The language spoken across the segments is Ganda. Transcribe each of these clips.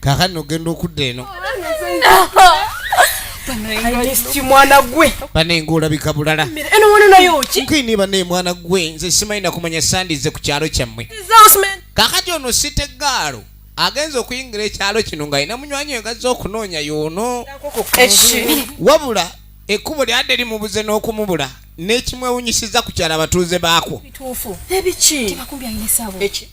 kakati nogenda okudda eno mwana gwe banenga olabika bulala nkini bane mwana gwe nze simanyi nakumanya sandize ku kyalo kyammwe kakati ono sitegaalo agenze okuyingira ekyalo kino ng'alina munywanyi we gazze okunoonya yoono wabula ekkubo lyadde limubuze n'okumubula n'ekimwewunyisiza ku kyalo abatuuze baakwo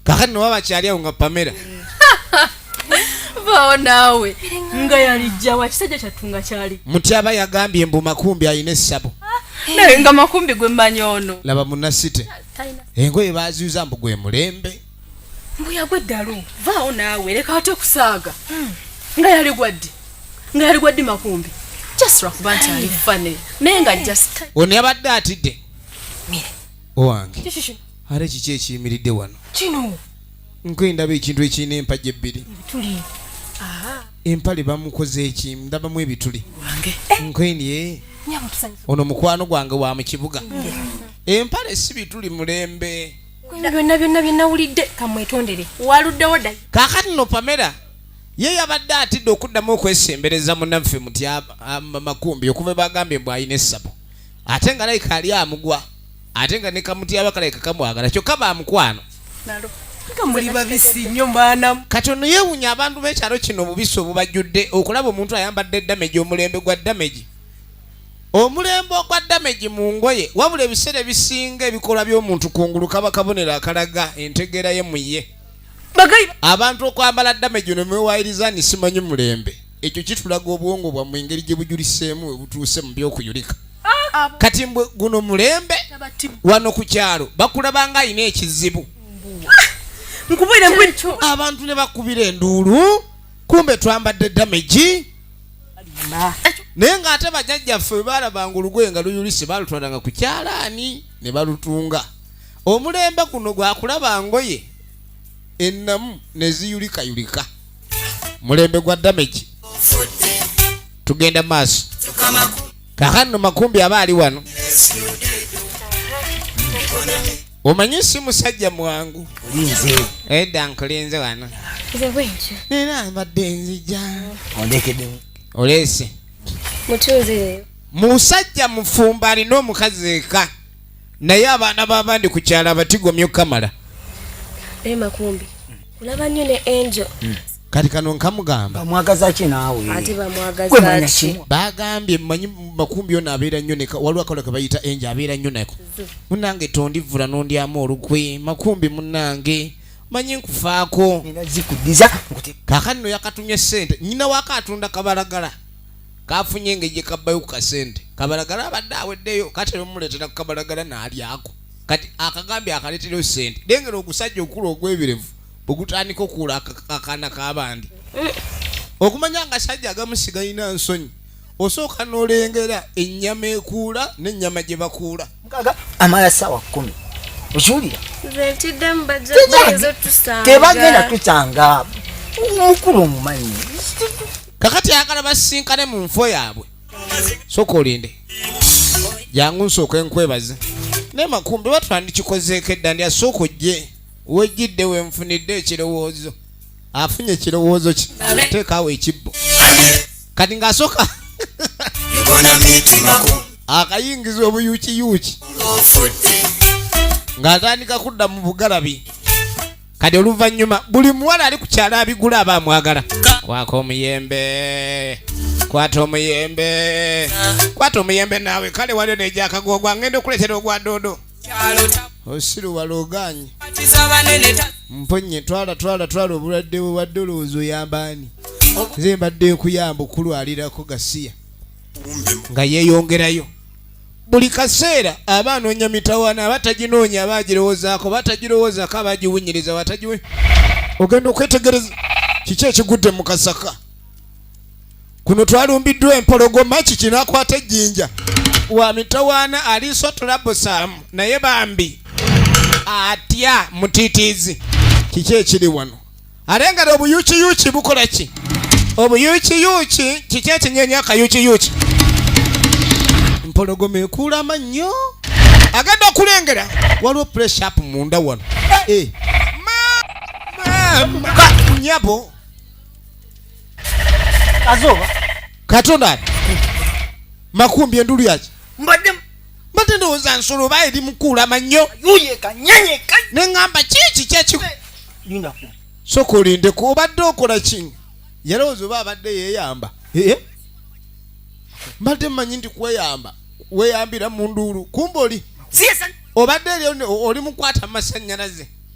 kakati noba bakyali awo nga pamera vaawo naawe nga yalijja wakisajja kyattu nga kyali mutyaba yagambye mbu makumbi alina essabo ah, naye nga makumbi gwe mmanyi ono laba munasite engoye baziuza mbu gwe mulembe mbu yagwa eddalu vaawo naawe leka wati okusaaga hmm. nga yali gwaddi nga yali gwaddi makumbi just lwakuba nti ali fane naye nga just ono yabadde atidde owange ate kiki ekiyimiridde wano kino nkwendaba ekintu ekirina empagi ebbiri empale bamukoze eki ndabamu ebituli nkwenye eh? ono mukwano gwange wa mu kibuga empale si bituli mulembe byonna byonna byenawulidde kamwetondere waluddewo dda kaakati no pamera ye yabadde atidde okuddamu okwesembereza munaffe muty makumbi okuva bagambye mbu alina essabo ate nga layika ali amugwa ate nga nekamutyaba kalaika kamwagala kyokka bamukwano kati ono yewunya abantu bekyalo kino obubisi obubajjudde okulaba omuntu ayambadde damage omulembe gwa damage omulembe ogwa damage mu ngoye wabula ebiseera ebisinga ebikolwa by'omuntu kungulu kaba kabonero akalaga entegeera ye muye abantu okwambala damage nomwewayiriza ni simanyi mulembe ekyo kitulaga obwongo bwa mu ngeri gye bujuliseemu we butuuse mu by'okuyulika ah, kati mbwe guno mulembe wano ku kyalo bakulaba nga alina ekizibu abantu ne bakubira enduulu kumbe twambadde damage naye ng'ate bajajjaffe bwe baalabanga olugoye nga luyulise baalutwalanga ku kyalaani ne balutunga omulembe guno gwakulaba ngoye ennamu ne ziyulikayulika mulembe gwa damage tugenda maaso kakano makumbi aba ali wano omanyi si musajja mwangu edda nkulinze wano era mbadde nzija oleese musajja mufumba alina omukazi eka naye abaana babandi ku kyalo abatigomya okukamala olaba nnyo ne angel hmm. kati kano nkamugamba bamwagaza ki naawe ate bamwagaza ki bagambye manyi makumbi ono abeera nnyo neka waliwo akola ke bayita enje abeera nnyo nako munange tondivvula nondyamu olukwe makumbi munange manyi nkufaako zikudiza kakati no yakatumye sente nyina wako atunda kabalagala kafunye engeri gyekabbayo ku kasente kabalagala abadde aweddeyo kati nomuleetera ku kabalagala naalyako kati akagambye akaletereyo sente lengera ogusajja okukula ogwebirevu ogutandika okuula akaana kabandi eh. okumanya nga sajja agamusiga ina nsonyi osooka nolengera ennyama ekuula n'ennyama gye bakuula amala sawa kumi okiwulira tebagenda tutanga mukulu omumanyi kakati ayagala basinkane mu nfo yaabwe soka olinde jangu nsooka enkwebaze naye makumbi batwandikikozeeko edda ndi asooka ojje wejjidde wenfunidde ekirowoozo afunye ekirowoozo ki teekaawo ekibbo kati ng'asooka akayingiza obuyuukiyuuki ng'atandika kudda mu bugalabi kati oluvannyuma buli muwala ali ku kyalo abigula aba amwagala kwaka omuyembe kwata omuyembe kwata omuyembe naawe kale waliyo negyakagogwa ngenda okuleetera ogwa doodo osiru walogaanyi mponye twala twala twala obulwadde bwe wadde olowooza oyambaani nze mbadde nkuyamba okulwalirako gasiya nga yeeyongerayo buli kaseera aba anoonya mitawaana aba taginoonya aba agirowoozaako aba tagirowoozako aba agiwunyiriza watagiwe ogenda okwetegereza kiki ekigudde mu kasaka kuno twalumbiddwa empologoma kikinakwata ejjinja wa mitawaana aliiso tulabusaamu naye bambi atya mutitiizi kiki ekiri wano ate nga obuyukiyuki bukola ki obuyukiyuki kiki ekinyenya akayukiyuki mpologoma ekuula amannyo agenda okulengera waliwo pressup munda wano eh. nyabo kazoba katonda ali makumbi endulu yaki mbadde mbadde ndowooza nsolo oba eri mukuulama nnyo ne ŋŋamba kiiki kyekiko soka olindeku obadde okola ki yalowooza oba abadde yeeyamba eh? mbadde mmanyi nti kweyamba weeyambira mu nduulu kumba oli obadde oli mukwata mu masannyalaze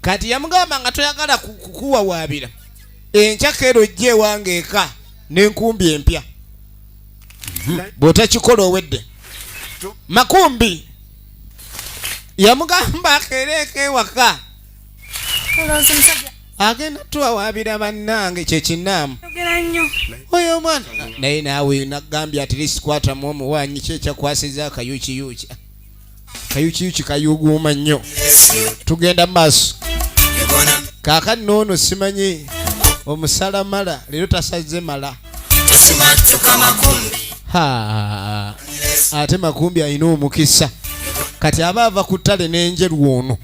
kati yamugamba nga toyagala kukuwawaabira enkya keera ojja ewange eka nenkumbi empya mhm. bwotakikola owedde makumbi yamugamba akeera eka ewaka agenda tuwawaabira bannange kyekinaamu oyo omwana naye naawe nagambye atiriskwatamu omuwanyi kyekyakwasiza akayukiyuki kayukiyuki kayuguuma nnyo tugenda maaso kaakati noono simanyi omusala mala leero tasazze mala ate makumbi alina omukisa kati aba ava ku ttale n'enjeru ono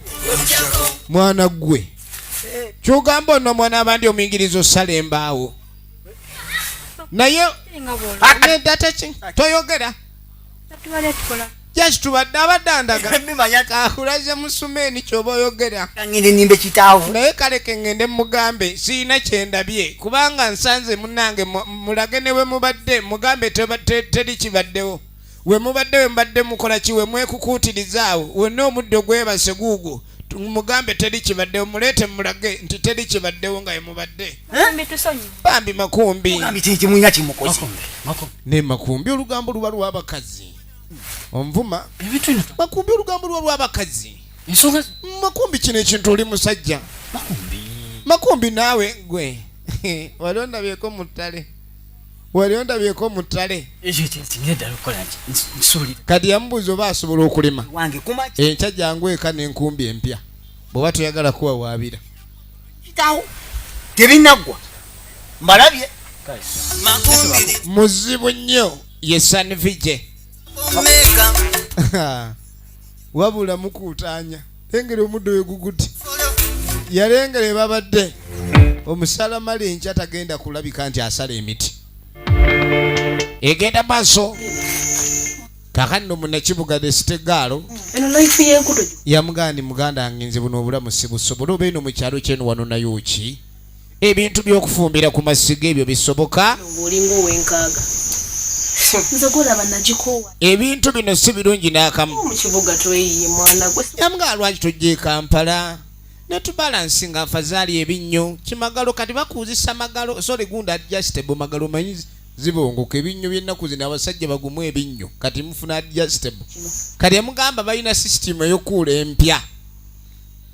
mwana ggwe kyogamba ono mwana abandi omuyigiriza osala embaawo naye toyogera jaki tubadde abadandagakulaze musumeni kyoba oyogera naye kale kengende mugambe siyina kyendabye kubanga nsanze munange mulage ne we mubadde mugambe teri kibaddewo we mubadde we mubadde mukola ki we mwekukuutirizaawo wonna omuddo gwebase guugwo mugambe teri kibaddewo muleete mulage nti teri kibaddewo nga yemubadde bambi makumbi naye makumbi olugambo luba lwabakazi onvuma makumbi olugambo luba lwabakazi makumbi kino ekintu oli musajja makumbi naawe gwe wali ondabyeko mu ttale wali ondabyeko mu ttale kati yamubuuza oba asobola okulima enkya jangu eka n'enkumbi empya bw'oba toyagala kuwawaabira tebinaggwa mbalabye muzibu nnyo ye sanvije wabula mukuutaanya lengera omuddo weguguti yalengera ebabadde omusala mali enkya tagenda kulabika nti asala emiti egenda maaso kakati no munakibuga the state gaalo yamugandi muganda wange nze buno obulamu sibusobola obeeno mu kyalo kyenu wano nayo ki ebintu by'okufumbira ku masiga ebyo bisoboka ebintu bino si birungi n'akamu nga lwaki tujja e kampala netubalansi nga afazaali ebinnyo kimagalo kati bakuuzisa magalo sole gunda adjustable magalo manyi zibongoka ebinnyo by'ennaku zino abasajja bagumu ebinnyo kati mufuna adjustable kati emugamba balina sisitimu eyokuula empya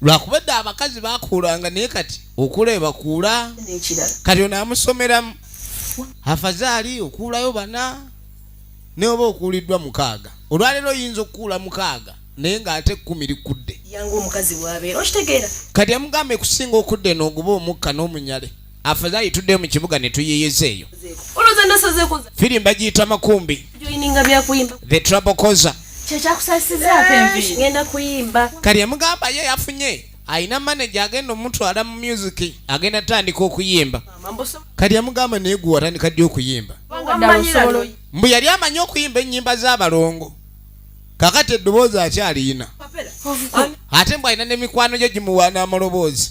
lwakuba edda abakazi bakuulanga naye kati okula ebakuula kati ono amusomeramu afazaali okuulayo bana naye oba okuuliddwa mukaaga olwaleero oyinza okukuula mukaaga naye ng'ate ekkumi likudde kati amugamba ekusinga okudde nooguba omukka n'omunyale afadhali tudde mu kibuga ne tuyiyiza eyo firi mbagiyita makumbi the trouble causer kati amugamba ye yafunye alina manaja agenda omutwala mu music agenda tandika okuyimba kati amugamba naye gwe watandika ddi okuyimba mbu yali amanyi okuyimba ennyimba z'abalongo kakati eddoboozi akyaliyina ate mbu alina n'emikwano gyo gimuwaana amaloboozi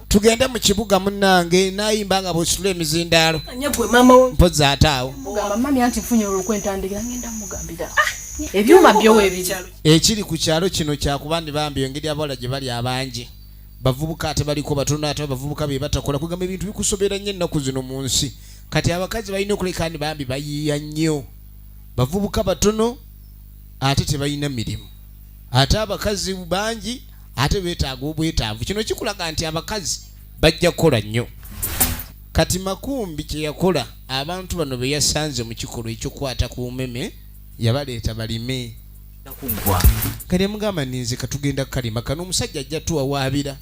tugende mu kibuga munnange nayimba nga bwesitula emizindaalo mpozi ate awo ebyuma byowebiri ekiri ku kyalo kino kyakuba ndi bambi engeri abawala gye bali abangi bavubuka ate baliko batono ate abavubuka be batakola kugamba ebintu bikusobera nnyo ennaku zino mu nsi kati abakazi balina okuleka ndi bambi bayiiya nnyo bavubuka batono ate tebalina mirimu ate abakazi bangi ate betaaga obwetaavu kino kikulaga nti abakazi bajja kukola nnyo kati makumbi kyeyakola abantu bano beyasanze mu kikolwa ekyokukwata ku meme yabaleeta balime kale mugamba ninze katugenda kukalima kano omusajja ajja tuwawaabira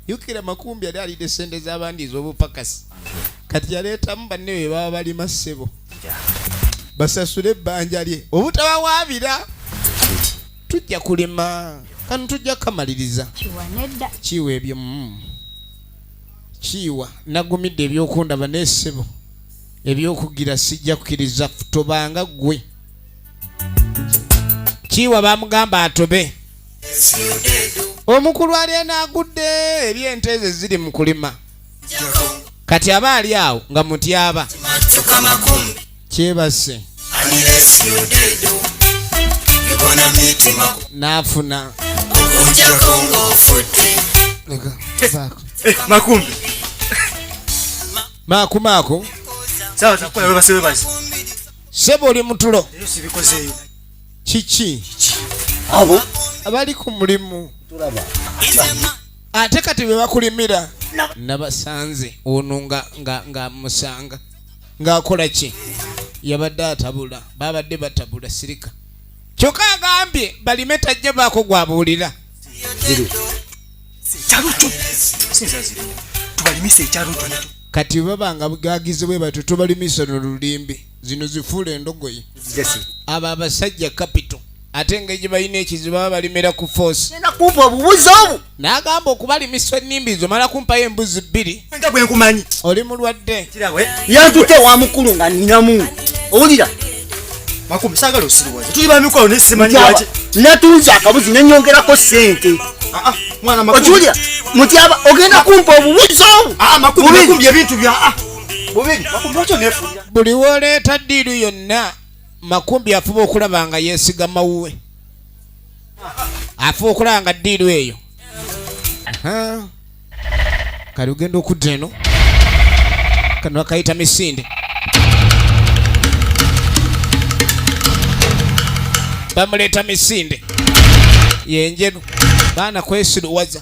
yukira makumbi yali alidde sente z'abandi ez'obupakasi kati yaleetamu banne be baba balima ssebo basasule ebbanja lye obutabawaabira tujja kulima kano tujja kukamaliriza kiwa ebyo mm. kiwa nagumidde ebyokundaba nesebo ebyokugira sijja kukiriza tobanga gwe kiwa bamugamba atobe omukulu ali enagudde ebyente ezo ziri mu kulima kati aba ali awo nga mutyaba kyebase nafuna makumbi makumaku sebo oli mutulo kiki abo abali ku mulimu ate kati bebakulimira nabasanze ono nga musanga ng'akola ki yabadde atabula babadde batabula sirika kyokka agambye balime tajja baako gwabuulira kati babanga bugagizi bwe batyo tubalimisa no lulimbi zino zifuula endogoyi abo abasajja kapito ate nga gye balina ekizibu baba balimira ku force genda kumpa obubuzi obu n'agamba okubalimisa ennimbi zo mala kumpayo embuzi bbiri nga bwe nkumanyi oli mulwadde yantutte wa mukulu nga ninamu owulira makumusagala osiriwaza tuli bamikwano naye simanyi lwaki natunze akabuzi nenyongerako sente ah, ah, okiwulira mutyaba ogenda kumpa obubuzi obu ah, makumbye ebintu bya bubiri makumbye okyo nefulira buli woleeta ddiiru yonna makumbi afuba okulaba nga yesigama wuwe afuba okulaba nga ddiiru eyo kali ogenda okudda eno kano akayita misinde bamuleeta misinde yenjeru baana kwesiruwaza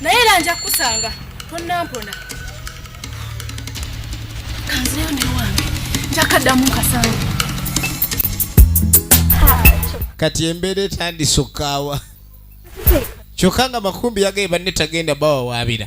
naye era nja kukusanga tonnampona kanzireyo ne wange njakaddamu nkasanga kati embeera etandise okukaawa kyokka nga makumbi yagaye banne tagenda bawawaabira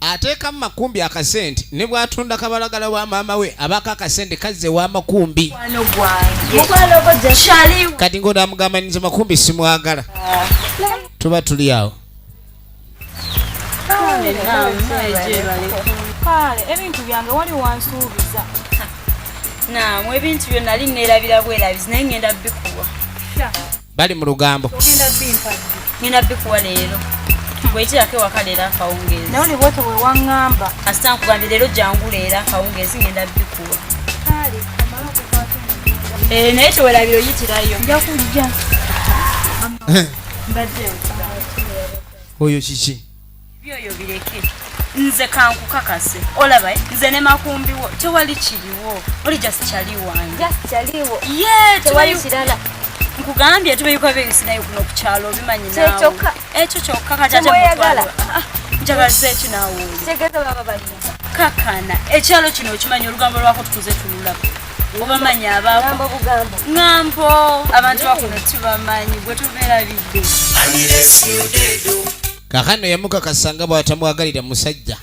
ateekamu makumbi akasente ne bwatunda kabalagala wa maama we abaako akasente kazze wa makumbi kati ngaonaamugamba ninze makumbi simwagala tuba tuli awo ebintu byange wali wansuubiza namwe ebintu byonali neerabira bwerabizi naye ngenda bikuwa bali mu lugambo ngenda bikuwa leero bwekirako ewaka leero akawungeezi naye olibwete wewaŋŋamba kasita nkugambye leero jangu leero akawungeezi ngenda bikuwa eh, naye tewerabira oyitirayo nja kujja oyo kiki byoyo bireke nze kankukakase olaba eh? nze ne makumbiwo tewali kiriwo oli just kyali wange nkugambye tubeyuka beyisinayo kuno kukyalo obimanyi nawe ekyo kyokka kajajamukwala njagaliza eki nawe kakana ekyalo kino okimanyi olugambo lwako tukuze tululaba obamanyi ababo ŋambo abantu bakuno tubamanyi gwe tubeera bidde kakano yamukakasa nga bwatamwagalira musajja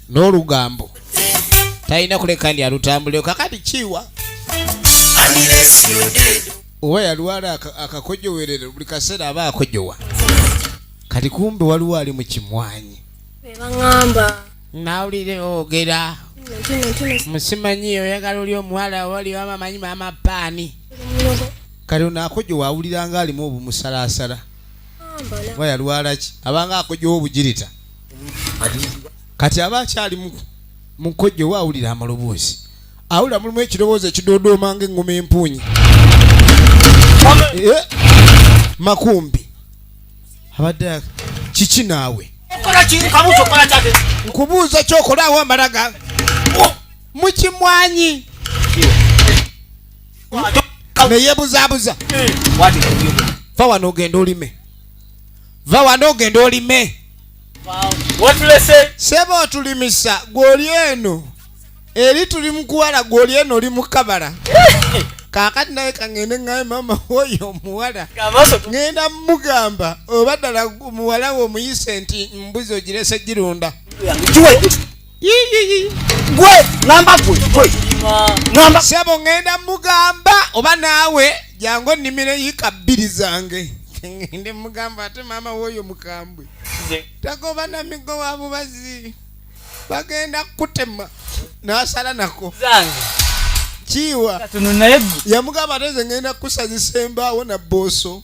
n'olugambo talina kuleka ndi alutambuleo kakati kiwa oba yalwala akakojowerero buli kaseera aba akojowa kati kumbe waliwo ali mu kimwanyi nawulire ogera musimanyi oyagala oli omuwala wali wamamanyi mama paani kati onaakojowa awuliranga alimu obumusalasala oba yalwalaki abanga akojjawo obugirita kati aba akyali mukojja owa awulira amaloboozi awulira mulimu ekirowoozo ekidoodooma nga eŋŋoma empuunyi eh, makumbi abadde kiki naawe nkubuuza kyokolaawo amalaga mukimwanyi neyebuzabuza va wano ogenda olime va wano ogenda olime seba otulimisa gwoli eno eri tuli mukuwala gwoli eno oli mukabala kakati naye kangende ngaye mama oyo omuwala ngenda mugamba oba ddala muwala we omuyise nti mbuzi ogirese girunda gwe ngamba gwe gwe ngamba sebo ngenda mugamba oba naawe jangu onnimire yika bbiri zange ndi mugamba ate maama wooyo mukambwe tagoba na migo wa bubazi bagenda kutema nasala nako kiwa yamugamba ate ze ngenda kusazisa embaawo na booso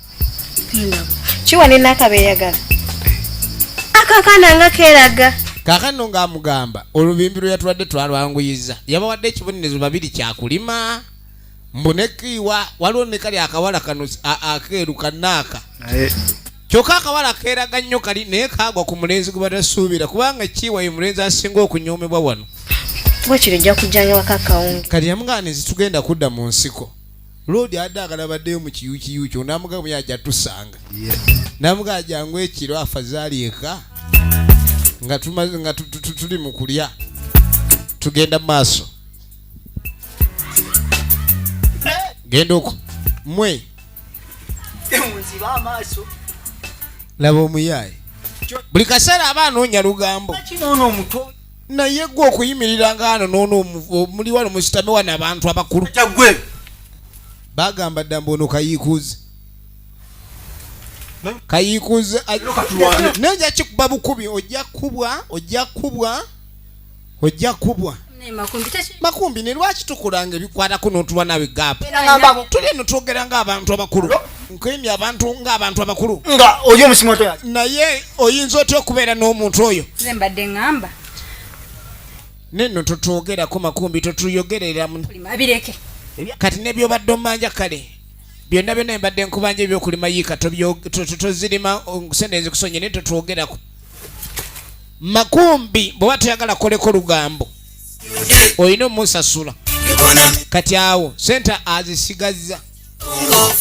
kiwa ne nakaba eyagala akakana nga keraga kakano ng'amugamba olubimbi lwe yatwadde twalwanguyiza yabawadde ekibonerezo babiri kyakulima mbu nekiiwa waliwo ne kali akawala kano akeeru kanaaka kyokka akawala keeraga nnyo kali naye kaagwa ku mulenzi gwe batasuubira kubanga kiiwa ye mulenzi asinga okunyoomebwa wano kati yamugamba nezitugenda kudda mu nsiko Lodi adde agala baddeyo mu kiyukiyu kyo namuga buya ajja tusanga namuga ajangu ekiro afazali eka nga tumaze nga tuli mu kulya tugenda maaso genda oko mwe laba omuyaye buli kaseera aba anoonya lugambo naye gwe okuyimirira ngaano nono muli wano musitame wano abantu abakulu tagwe bagamba dda mbu ono kayiikuuzi kayiikuuzi naye ojja kikuba bukubi ojja kubwa ojja kubwa ojja kubwa makumbi ne lwaki tukulanga ebikwatako n'otuba nawe gaapu tuli eno twogera ng'abantu abakulu nkwemye abantu nga abantu abakulu nga oli omusimato yaki naye oyinza otya okubeera n'omuntu oyo nze mbadde ŋŋamba nenno totwogerako makumbi totuyogereramu abireke kati nebyobadde omanja kale byonna byonna mbadde nkubanja ebyokulima yiika tozirima sente ezikusonye naye totwogerako makumbi bweoba toyagala koleko lugambo olina omusasula kati awo sente azisigazza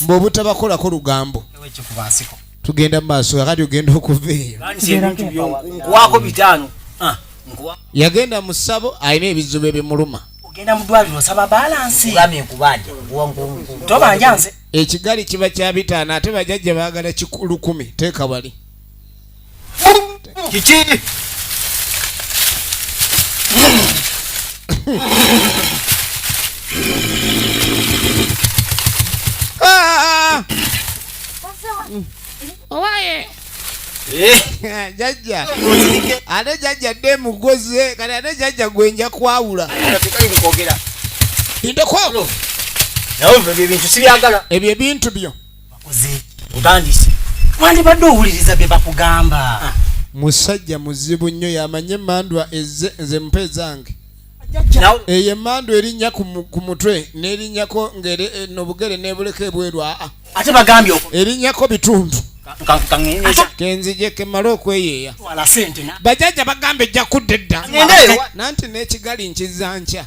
mbu obutabakolako lugambo tugenda mumaaso kakati ogenda okuva eyo ah, yagenda mu ssabo alina ebizibu ebimuluma ekigali kiba kyabitaano ate bajajja baagala lukumi teeka wali Kiki? Ah! Owaye. Eh, jajja ate jajja dde emugoze kati ate jajja gwe nja kwawula tekali mukwogera. ndeko Nawe ebyo ebintu sibyagala. ebyo ebintu byo bakoze otandise wandibadde owuliriza bye bakugamba ah. musajja muzibu nnyo yamanye emandwa eze nze mpa ezange eyo emandwa erinnya ku mutwe n'erinnyako nobugere eh, nebuleka ebweru aa ah, ah. ate bagambye erinnyako bitundu kenzije kemale okweyeeya bajaja bagamba ejja kudda edda nanti n'ekigali nkiza nkya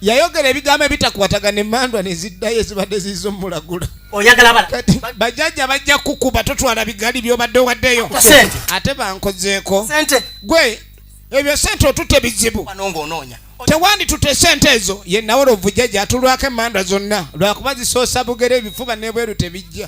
yayogera ebigambo ebitakwatagana emandwa neziddayo ezibadde ziiza omulagula bajaja bajja kukuba totwala bigali byobadde owaddeyo ate bankozeeko gwe ebyo sente otute bizibu tewandi tute sente ezo ye nawe lwovujaja atulwako emandwa zonna lwakuba zisoosa bugere ebifuba nebweru tebijja